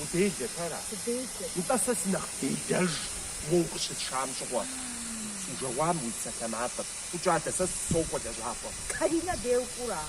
Уделэ ара? Уделэ. Нтӏэ, сэ сынэхъ делэж уэ укъыщысшам щыгъуэ. Сужэгъуам уи псалъэмакъыр. Фӏыкӏэ адэ, сэ сокӏуэ лэжьапӏэм. Каринэ деукӏура?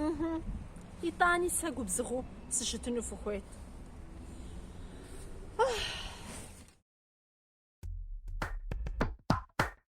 Ыхьы. Итӏани сэ губзыгъэу сыщытыну фыхуейт. Ыхьы.